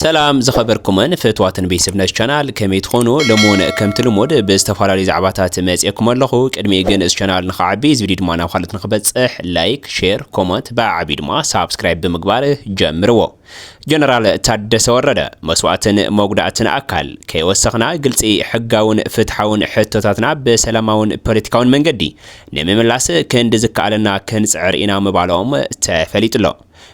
ሰላም ዝኸበርኩምን ፍትዋትን ቤተሰብ ነሽ ቻናል ከመይ ትኾኑ? ሎሚ እውን ከምቲ ልሙድ ብዝተፈላለዩ ዛዕባታት መፅኤኩም ኣለኹ። ቅድሚኡ ግን እዚ ቻናል ንኽዓቢ እዚ ቪድዮ ድማ ናብ ካልኦት ንኽበፅሕ ላይክ፣ ሼር፣ ኮመንት ብዓዓቢ ድማ ሳብስክራይብ ብምግባር ጀምርዎ። ጀነራል ታደሰ ወረደ መስዋእትን መጉዳእትን ኣካል ከይወሰኽና ግልፂ፣ ሕጋውን ፍትሓውን ሕቶታትና ብሰላማውን ፖለቲካውን መንገዲ ንምምላስ ክንዲ ዝከኣለና ክንፅዕር ኢና ምባሎም ተፈሊጡሎ።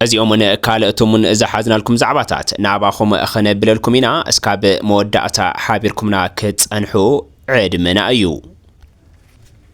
እዚኦምን ካልእቶምን ዝሓዝናልኩም ዛዕባታት ናባኹም ኽነብለልኩም ኢና እስካብ መወዳእታ ሓቢርኩምና ክትጸንሑ ዕድመና እዩ።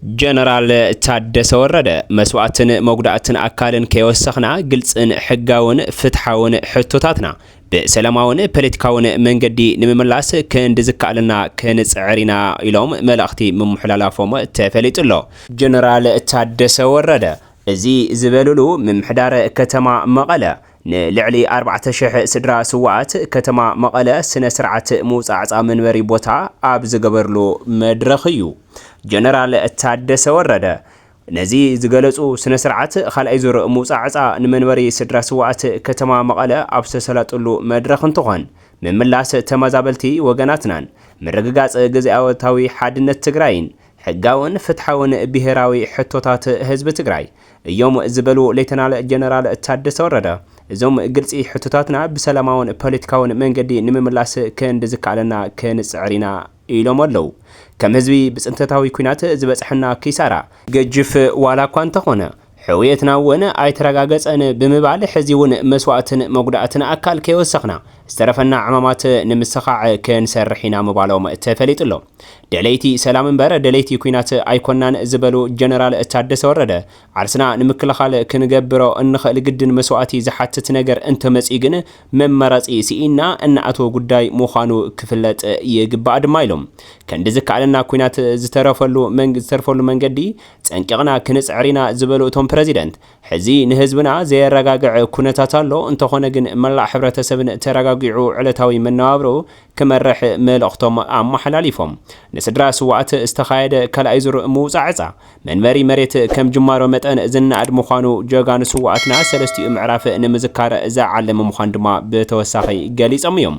ጀነራል ታደሰ ወረደ፣ መስዋእትን መጉዳእትን ኣካልን ከይወሰኽና ግልጽን ሕጋውን ፍትሓውን ሕቶታትና ብሰላማውን ፓለቲካውን መንገዲ ንምምላስ ክንዲ ዝከኣለና ክንጽዕር ኢና ኢሎም መልእኽቲ ምምሕላላፎም ተፈሊጡ ኣሎ። ጀነራል ታደሰ ወረደ እዚ ዝበልሉ ምምሕዳር ከተማ መቐለ ንልዕሊ ኣርባዕተ ሽሕ ስድራ ስውኣት ከተማ መቐለ ስነ ስርዓት ምውፃዕፃ መንበሪ ቦታ ኣብ ዝገበርሉ መድረኽ እዩ ጀነራል ታደሰ ወረደ ነዚ ዝገለፁ። ስነ ስርዓት ካልኣይ ዙር ምውፃዕፃ ንመንበሪ ስድራ ስውኣት ከተማ መቐለ ኣብ ዝተሰላጥሉ መድረኽ እንትኾን ምምላስ ተመዛበልቲ ወገናትናን ምርግጋፅ ግዝኣታዊ ሓድነት ትግራይን ሕጋውን ፍትሓውን ብሄራዊ ሕቶታት ህዝቢ ትግራይ እዮም ዝበሉ ሌተናል ጀነራል ታደሰ ወረደ፣ እዞም ግልፂ ሕቶታትና ብሰላማውን ፖለቲካውን መንገዲ ንምምላስ ክንድ ዝከኣለና ክንፅዕር ኢና ኢሎም ኣለው። ከም ህዝቢ ብፅንተታዊ ኲናት ዝበፅሐና ኪሳራ ገጅፍ ዋላ እኳ እንተኾነ፣ ሕውየትና እውን ኣይተረጋገፀን ብምባል ሕዚ እውን መስዋእትን መጉዳእትን ኣካል ከይወሰኽና ዝተረፈና ዕማማት ንምስኻዕ ክንሰርሕ ኢና ምባሎም ተፈሊጡ ኣሎ። ደለይቲ ሰላም እምበር ደለይቲ ኲናት ኣይኮናን ዝበሉ ጀነራል ታደሰ ወረደ ዓርስና ንምክልኻል ክንገብሮ እንኽእል ግድን መስዋእቲ ዝሓትት ነገር እንተመፂኡ ግን መመረፂ ስኢንና እንኣትዎ ጉዳይ ምዃኑ ክፍለጥ ይግባእ ድማ ኢሎም። ክንዲ ዝከኣለና ኲናት ዝተረፈሉ መንገዲ ፀንቂቕና ክንፅዕር ኢና ዝበሉ እቶም ፕረዚደንት፣ ሕዚ ንህዝብና ዘየረጋግዐ ኩነታት ኣሎ፣ እንተኾነ ግን መላእ ሕብረተሰብን ተረጋጊዑ ዕለታዊ መነባብርኡ ክመርሕ መልእኽቶም ኣመሓላሊፎም። ንስድራ ስውኣት ዝተኻየደ ካልኣይ ዙር ምውፃእ ዕፃ መንበሪ መሬት ከም ጅማሮ መጠን ዝነኣድ ምዃኑ ጀጋኑ ስውኣትና ሰለስቲኡ ምዕራፍ ንምዝካር ዝዓለመ ምዃኑ ድማ ብተወሳኺ ገሊፆም እዮም።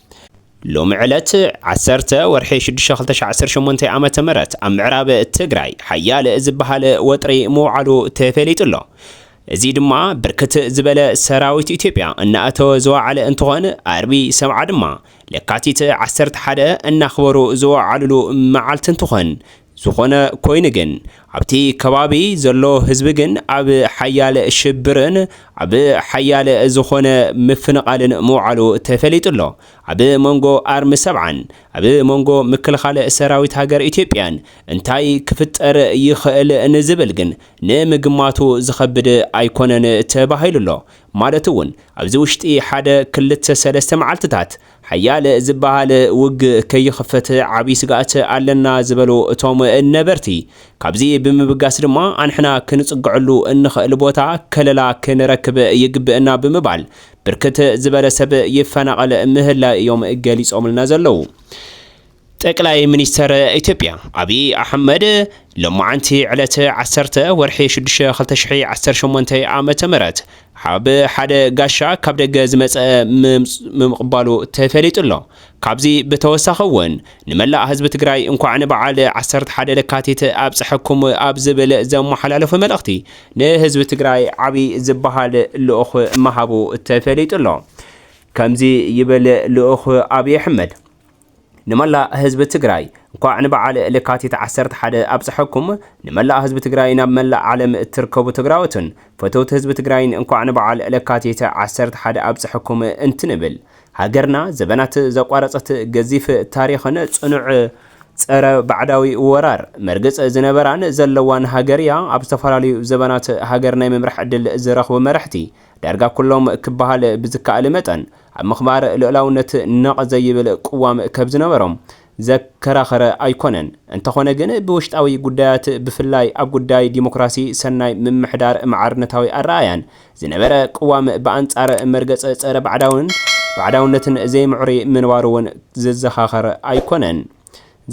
እዩ። ሎሚ ዕለት ዓሰርተ ወርሒ ሽዱሽተ ክልተ ሽሕ ዓሰርተ ሸሞንተ ዓመተ ምህረት ኣብ ምዕራብ ትግራይ ሓያል ዝበሃል ወጥሪ ምውዓሉ ተፈሊጡ ኣሎ። እዙይ ድማ ብርክት ዝበለ ሰራዊት ኢትዮጵያ እናኣተወ ዝወዓለ እንትኾን ኣርቢ ሰብዓ ድማ ለካቲት ዓሰርተ ሓደ እናኽበሩ ዝወዓልሉ መዓልቲ እንትኾን ዝኾነ ኮይኑ ግን ኣብቲ ከባቢ ዘሎ ህዝቢ ግን ኣብ ሓያል ሽብርን ኣብ ሓያል ዝኾነ ምፍንቓልን ምውዓሉ ተፈሊጡ ኣሎ። ኣብ መንጎ ኣርሚ ሰብዓን ኣብ መንጎ ምክልኻል ሰራዊት ሃገር ኢትዮጵያን እንታይ ክፍጠር ይኽእል ንዝብል ግን ንምግማቱ ዝኸብድ ኣይኮነን ተባሂሉ ኣሎ። ማለት እውን ኣብዚ ውሽጢ ሓደ ክልተ ሰለስተ መዓልቲታት ሓያል ዝበሃል ውግእ ከይኽፈት ዓብይ ስግኣት ኣለና ዝበሉ እቶም ነበርቲ፣ ካብዚ ብምብጋስ ድማ ኣንሕና ክንፅገዐሉ እንኽእል ቦታ ከለላ ክንረክብ ይግበእና ብምባል ብርክት ዝበለ ሰብ ይፈናቐል ምህላዩ እዮም ገሊፆምልና ዘለው። ጠቅላይ ሚኒስተር ኢትዮጵያ ኣብይ ኣሕመድ ሎማዕንቲ ዕለት ዓሰርተ ወርሒ ሽዱሽተ ክልተ ሽሕ ዓሰርተ ሸሞንተ ዓመተ ምህረት ብ ሓደ ጋሻ ካብ ደገ ዝመጸ ምምቕባሉ ተፈሊጡ ኣሎ። ካብዚ ብተወሳኺ እውን ንመላእ ህዝቢ ትግራይ እንኳዕ ንበዓል ዓሰርተ ሓደ ለካቲት ኣብጸሐኩም ኣብ ዝብል ዘመሓላለፎ መልእኽቲ ንህዝቢ ትግራይ ዓብይ ዝበሃል ልኡኽ ምሃቡ ተፈሊጡ ኣሎ። ከምዚ ይብል ልኡኽ ኣብይ ኣሕመድ። ንመላእ ህዝቢ ትግራይ እንኳዕ ንበዓል ለካቲት ዓሰርተ ሓደ ኣብፀሐኩም። ንመላእ ህዝቢ ትግራይን ኣብ መላእ ዓለም እትርከቡ ትግራዎትን ፈተውቲ ህዝቢ ትግራይን እንኳዕ ንበዓል ለካቲት ዓሰርተ ሓደ ኣብፀሐኩም እንትንብል ሃገርና ዘበናት ዘቋረፀት ገዚፍ ታሪኽን ፅኑዕ ፀረ ባዕዳዊ ወራር መርግፅ ዝነበራን ዘለዋን ሃገር እያ። ኣብ ዝተፈላለዩ ዘበናት ሃገር ናይ ምምራሕ ዕድል ዝረኽቡ መረሕቲ ዳርጋ ኩሎም ክበሃል ብዝከኣል መጠን ኣብ ምኽባር ልኡላውነት ነቕ ዘይብል ቅዋም ከብ ዝነበሮም ዘከራኸረ ኣይኮነን። እንተኾነ ግን ብውሽጣዊ ጉዳያት ብፍላይ ኣብ ጉዳይ ዲሞክራሲ፣ ሰናይ ምምሕዳር፣ ማዕርነታዊ ኣረኣእያን ዝነበረ ቅዋም ብኣንጻር መርገጽ ጸረ ባዕዳውን ባዕዳውነትን ዘይምዕሩይ ምንባሩ'ውን ዘዘኻኸር ኣይኮነን።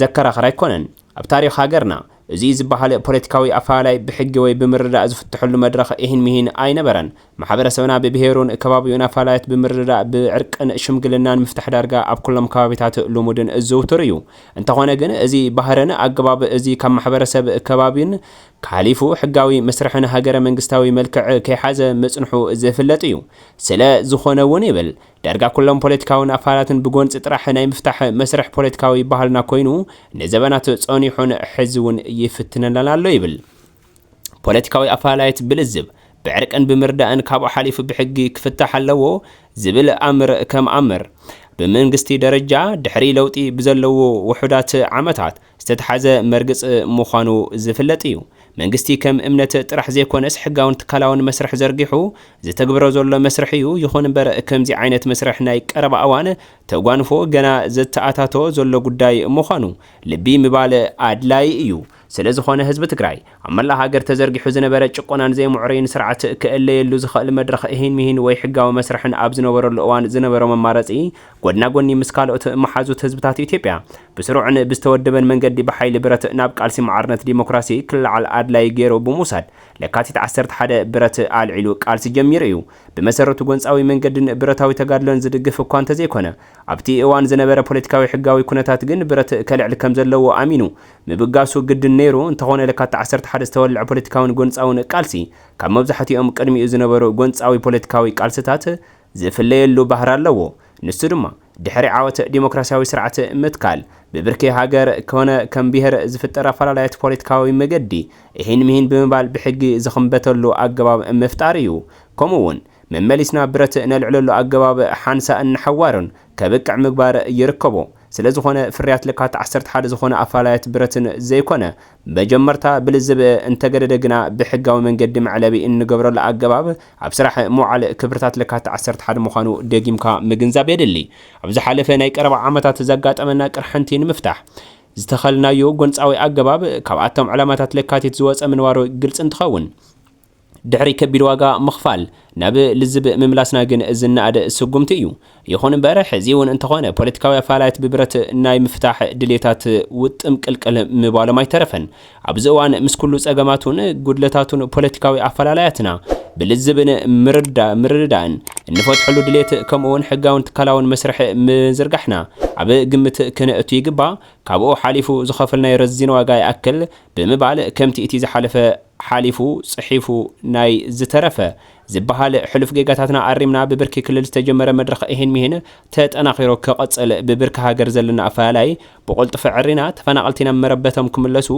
ዘከራኸር ኣይኮነን። ኣብ ታሪኽ ሃገርና፣ እዙይ ዝበሃል ፖለቲካዊ ኣፈላላይ ብሕጊ ወይ ብምርድዳእ ዝፍተሐሉ መድረኽ ኢሂን ምሂን ኣይነበረን። ማሕበረሰብና ብብሄሩን ከባቢኡን ኣፈላላያት ብምርድዳእ፣ ብዕርቅን ሽምግልናን ምፍታሕ ዳርጋ ኣብ ኩሎም ከባቢታት ልሙድን ዝውቱር እዩ። እንተኾነ ግን እዙይ ባህርን ኣገባብ እዙይ ካብ ማሕበረሰብ ከባቢን ሓሊፉ ሕጋዊ መስርሕን ሃገረ መንግስታዊ መልክዕ ከይሓዘ ምፅንሑ ዝፍለጥ እዩ። ስለ ዝኾነ እውን ይብል ዳርጋ ኩሎም ፖለቲካዊ ንኣፋላትን ብጎንጺ ጥራሕ ናይ ምፍታሕ መስርሕ ፖለቲካዊ ባህልና ኮይኑ ንዘበናት ጸኒሑን ሕዚውን ይፍትነናን ኣሎ ይብል። ፖለቲካዊ ኣፈላላይት ብልዝብ፣ ብዕርቅን ብምርዳእን ካብኡ ሓሊፉ ብሕጊ ክፍታሕ ኣለዎ ዝብል ኣምር ከም ኣምር፣ ብመንግስቲ ደረጃ ድሕሪ ለውጢ ብዘለዉ ውሑዳት ዓመታት፣ ዝተትሓዘ መርግጽ ምዃኑ ዝፍለጥ እዩ። መንግስቲ ከም እምነት ጥራሕ ዘይኮነስ ሕጋውን ትካላውን መስርሕ ዘርጊሑ ዝተግብሮ ዘሎ መስርሕ እዩ። ይኹን እምበር ከምዚ ዓይነት መስርሕ ናይ ቀረባ እዋን ተጓንፎ ገና ዘተኣታቶ ዘሎ ጉዳይ ምዃኑ ልቢ ምባል ኣድላይ እዩ። ስለዝኾነ ህዝቢ ትግራይ ኣብ መላእ ሃገር ተዘርጊሑ ዝነበረ ጭቆናን ዘይምዕሩይን ስርዓት ክእለየሉ ዝኸእል መድረኽ እሂን ምሂን ወይ ሕጋዊ መስርሕን ኣብ ዝነበረሉ እዋን ዝነበሮ መማረጺ ጎድና ጎኒ ምስ ካልኦት መሓዙት ህዝብታት ኢትዮጵያ ብስሩዕን ብዝተወደበን መንገዲ ብሓይሊ ብረት ናብ ቃልሲ ማዕርነት ዲሞክራሲ ክለዓል ኣድላዪ ገይሩ ብምውሳድ ለካቲት ዓሰርተ ሓደ ብረት ኣልዒሉ ቃልሲ ጀሚሩ እዩ። ብመሰረቱ ጎንጻዊ መንገድን ብረታዊ ተጋድሎን ዝድግፍ እኳ እንተዘይኮነ ኣብቲ እዋን ዝነበረ ፖለቲካዊ ሕጋዊ ኩነታት ግን ብረት ከልዕል ከምዘለዎ ኣሚኑ ምብጋሱ ግድን ነይሩ። እንተኾነ ለካቲት ዓሰርተ ሓደ ዝተወልዐ ፖለቲካውን ጎንጻውን ቃልሲ ካብ መብዛሕቲኦም ቅድሚኡ ዝነበሩ ጎንጻዊ ፖለቲካዊ ቃልስታት ዝፍለየሉ ባህሪ ኣለዎ። ንሱ ድማ ድሕሪ ዓወት ዲሞክራሲያዊ ስርዓት ምትካል ብብርኪ ሃገር ኮነ ከም ብሄር ዝፍጠር ኣፈላላያት ፖለቲካዊ መገዲ እሂን ምሂን ብምባል ብሕጊ ዝኽምበተሉ ኣገባብ ምፍጣር እዩ። ከምኡ እውን መመሊስና ብረት ነልዕለሉ ኣገባብ ሓንሳእን ንሓዋሩን ከብቅዕ ምግባር ይርከቦ። ስለዝኾነ ፍርያት ልካት ዓሰርተ ሓደ ዝኾነ ኣፈላላያት ብረትን ዘይኮነ መጀመርታ ብልዝብ እንተገደደ ግና ብሕጋዊ መንገዲ መዕለቢ እንገብረሉ ኣገባብ ኣብ ስራሕ ምውዓል ክብርታት ለካቲት ዓሰርተ ሓደ ምዃኑ ደጊምካ ምግንዛብ የድሊ። ኣብ ዝሓለፈ ናይ ቀረባ ዓመታት ዘጋጠመና ቅርሕንቲ ንምፍታሕ ዝተኸልናዮ ጎንጻዊ ኣገባብ ካብኣቶም ዕላማታት ለካቲት ዝወጸ ምንባሩ ግልጺ እንትኸውን፣ ድሕሪ ከቢድ ዋጋ ምኽፋል ናብ ልዝብ ምምላስና ግን ዝነኣድ ስጉምቲ እዩ። ይኹን እምበር ሕዚ እውን እንተኾነ ፖለቲካዊ ኣፈላላያት ብብረት ናይ ምፍታሕ ድልየታት ውጥም ቅልቅል ምባሎም ኣይተረፈን። ኣብዚ እዋን ምስ ኩሉ ፀገማቱን ጉድለታቱን ፖለቲካዊ ኣፈላላያትና ብልዝብን ምርድዳእን እንፈትሐሉ ድልየት ከምኡ እውን ሕጋውን ትካላውን መስርሕ ምዝርጋሕና ኣብ ግምት ክነእቱ ይግባእ። ካብኡ ሓሊፉ ዝኸፈልናዮ ረዚን ዋጋ ይኣክል ብምባል ከምቲ እቲ ዝሓለፈ ሓሊፉ ጽሒፉ ናይ ዝተረፈ ዝበሃል ሕሉፍ ጌጋታትና ኣሪምና ብብርኪ ክልል ዝተጀመረ መድረኽ ኢሂን ሚሂን ተጠናኺሩ ክቕጽል ብብርኪ ሃገር ዘለና ኣፈላላይ ብቑልጡፍ ኣዐሪና ተፈናቐልቲ ናብ መረበቶም ክምለሱ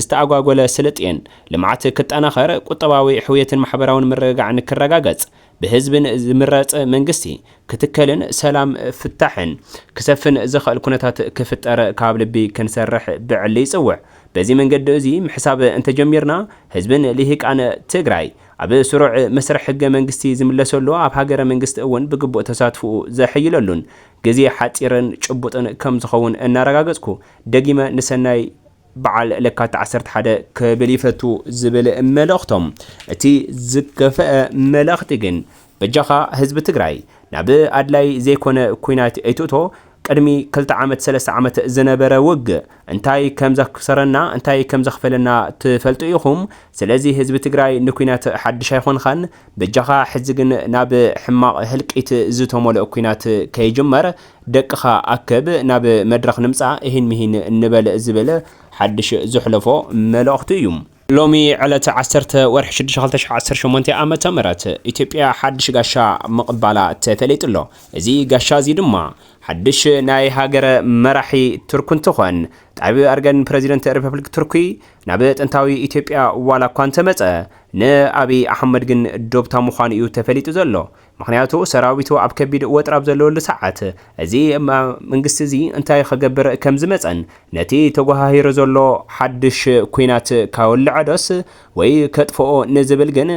ዝተኣጓጎለ ስልጤን ልምዓት ክጠናኸር ቁጠባዊ ሕውየትን ማሕበራውን ምርግጋዕን ክረጋገጽ ብህዝብን ዝምረፅ መንግስቲ ክትከልን ሰላም ፍታሕን ክሰፍን ዘኸእል ኩነታት ክፍጠር ካብ ልቢ ክንሰርሕ ብዕሊ ይፅውዕ። በዚ መንገዲ እዙይ ምሕሳብ እንተጀሚርና ህዝብን ሊሂቃን ትግራይ ኣብ ስሩዕ መስርሕ ህገ መንግስቲ ዝምለሰሉ ኣብ ሃገረ መንግስቲ እውን ብግቡእ ተሳትፍኡ ዘሐይለሉን ግዜ ሓፂርን ጭቡጥን ከምዝኸውን እናረጋገፅኩ ደጊመ ንሰናይ በዓል ለካቲት ዓሰርተ ሓደ ክብል ይፈቱ ዝብል መልእኽቶም እቲ ዝከፈኣ መልእኽቲ ግን በጃኻ ህዝቢ ትግራይ ናብ ኣድላይ ዘይኮነ ኩናት ኣይትእቶ ቅድሚ ክልተ ዓመት ሰለስተ ዓመት ዝነበረ ውግእ እንታይ ከምዘክሰረና እንታይ ከምዘኽፈለና ትፈልጡ ኢኹም ስለዚ ህዝቢ ትግራይ ንኩናት ሓድሽ ኣይኾንኻን በጃኻ ሕዚ ግን ናብ ሕማቕ ህልቂት ዝተመልኦ ኩናት ከይጅመር ደቅኻ ኣክብ ናብ መድረኽ ንምጻእ እሂን ምሂን ንበል ዝብል ሓድሽ ዘሕለፎ መልእኽቱ እዩ። ሎሚ ዕለት ዓሰርተ ወርሒ ሽዱሽተ ክልተ ሽሕ ዓሰርተ ሸሞንተ ኣመተ ምህረት ኢትዮጵያ ሓድሽ ጋሻ ምቕባላ ተፈሊጡ ኣሎ። እዚ ጋሻ እዚ ድማ ሓድሽ ናይ ሃገረ መራሒ ቱርክ እንትኾን ጣይብ ኣርገን ፕረዚደንት ሪፐብሊክ ቱርኪ ናብ ጥንታዊ ኢትዮጵያ ዋላ እኳ እንተመጸ ንኣብይ ኣሕመድ ግን ዶብታ ምዃኑ እዩ ተፈሊጡ ዘሎ። ምኽንያቱ ሰራዊቱ ኣብ ከቢድ ወጥሪ ኣብ ዘለወሉ ሰዓት እዚ መንግስቲ እዚ እንታይ ኸገብር ከም ዝመጸን ነቲ ተጎሃሂሩ ዘሎ ሓድሽ ኲናት ከውልዖ ዶስ ወይ ከጥፍኦ ንዝብል ግን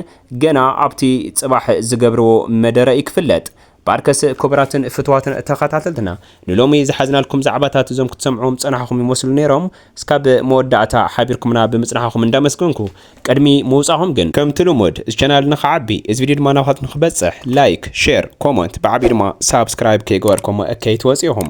ገና ኣብቲ ጽባሕ ዝገብርዎ መደረ እዩ ክፍለጥ። ባርከስ ክቡራትን ፍቱዋትን ተኸታተልትና ንሎሚ ዝሓዝናልኩም ዛዕባታት እዞም ክትሰምዕዎም ዝጸናሕኹም ይመስሉ ነይሮም እስካብ መወዳእታ ሓቢርኩምና ብምጽናሕኹም እንዳመስገንኩ ቅድሚ ምውጻኹም ግን፣ ከምቲ ልሙድ እዚ ቻናል ንኽዓቢ እዚ ቪድዮ ድማ ናባኻትኩም ንኽበጽሕ ላይክ፣ ሼር፣ ኮሞንት ብዓቢኡ ድማ ሳብስክራይብ ከይገበርኩሞ እከይትወጹ ኢኹም።